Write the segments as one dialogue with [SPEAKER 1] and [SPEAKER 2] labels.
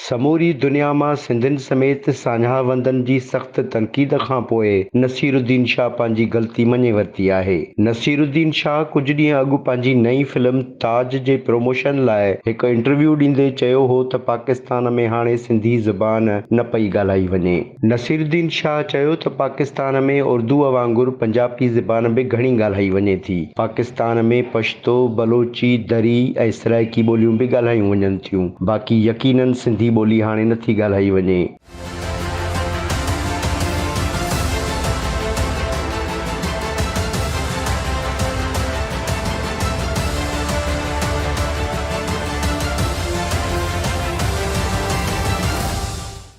[SPEAKER 1] سموري دنيا مان سنڌين سميت ساڃاهوندن جي سخت تنقيد کان پوء نصير الدين شاهه پنهنجي غلطي مڃي ورتي آهي. نصير الدين شاهه ڪجهه ڏينهن اڳ پنهنجي نئين فلم تاج جي پروموشن لاء هڪ انٽرويو ڏيندي چيو هو ته پاڪستان ۾ هاڻي سنڌي زبان نه پئي ڳالهائي وڃي. نصيرالدين شاهه چيو ته پاڪستان ۾ اردوء وانگر پنجابي زبان به گهڻي ڳالهائي وڃي ٿي. پاڪستان ۾ پشتو، بلوچي، دري ۽ سرائيڪي ٻوليون به ڳالهايون وڃن ٿيون، باقي يقيناً سنڌي ٻولي هاڻي نه ٿي ڳالهائي وڃي.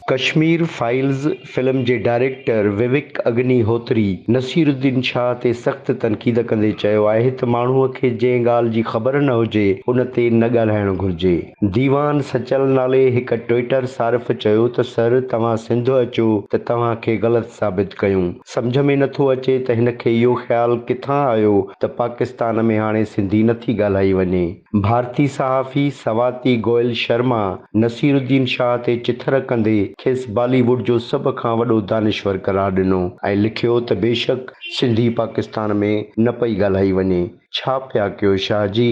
[SPEAKER 1] ڪشمير فائيلز فلم جي ڊائريڪٽر وويڪ اگني هوتري نصير الدين شاهه تي سخت تنقيد ڪندي چيو آهي ته ماڻهو کي جنهن ڳالهه جي خبر نه هجي ان تي نه ڳالهائڻ گهرجي. ديوان سچل نالي هڪ ٽوئيٽر صارف چيو ته سر توهان سنڌ اچو ته توهان کي غلط ثابت ڪيون. سمجهه ۾ نٿو اچي ته هن کي اهو خيال ڪٿان آيو ته پاڪستان ۾ هاڻي سنڌي نٿي ڳالهائي وڃي. ڀارتي صحافي سواتي گوئل شرما نصيرالدين شاهه تي چٿر ڪندي کيس بالي ووڊ جو سڀ کان وڏو دانشور قرار ڏنو ۽ لکيو ته بيشڪ سنڌي پاڪستان ۾ نه پئي ڳالهائي وڃي. ڇا پيا ڪيو شاهه جي؟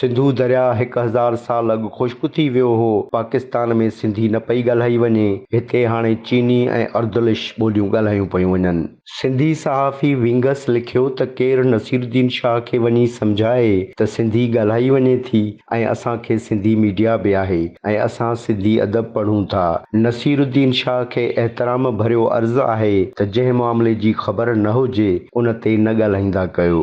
[SPEAKER 1] سنڌو درياء هڪ هزار سال اڳ خشڪ ٿي ويو هو. پاڪستان ۾ سنڌي نه پئي ڳالهائي وڃي. هتي هاڻي چيني ۽ اردلش ٻوليون ڳالهايون پيون وڃن. سنڌي صحافي ونگس لکيو ته ڪير نصير الدين شاهه کي وڃي سمجهائي ته سنڌي ڳالهائي وڃي ٿي ۽ اسان کي سنڌي ميڊيا به آهي ۽ اسان سنڌي ادب پڙهون ٿا. نصير الدين شاهه کي احترام ڀريو عرض آهي ته جنهن معاملي جي خبر نه هجي ان تي نه ڳالهائيندا ڪيو.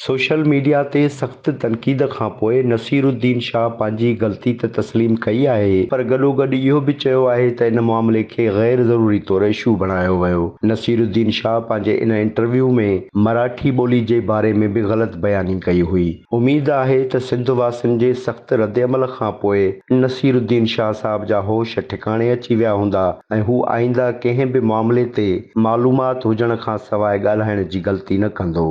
[SPEAKER 1] سوشل ميڊيا تي سخت تنقيد کانپوء نصير الدين شاهه پنهنجي غلطي ته تسليم ڪئي آهي پر گڏوگڏ اهو به چيو آهي ته ان معاملي کي غير ضروري طور اشو بڻايو ويو. نصير الدين شاهه پنهنجي ان انٽرويو ۾ مراٺي ٻولي جي باري ۾ به غلط بياني ڪئي هئي. اميد آهي ته سنڌ واسين جي سخت ردعمل کانپوء نصير الدين شاهه صاحب جا هوش ٺڪاڻي اچي ويا هوندا ۽ هو آئنده ڪنهن به معاملي تي معلومات هجڻ کانسواء ڳالهائڻ جي غلطي نه ڪندو.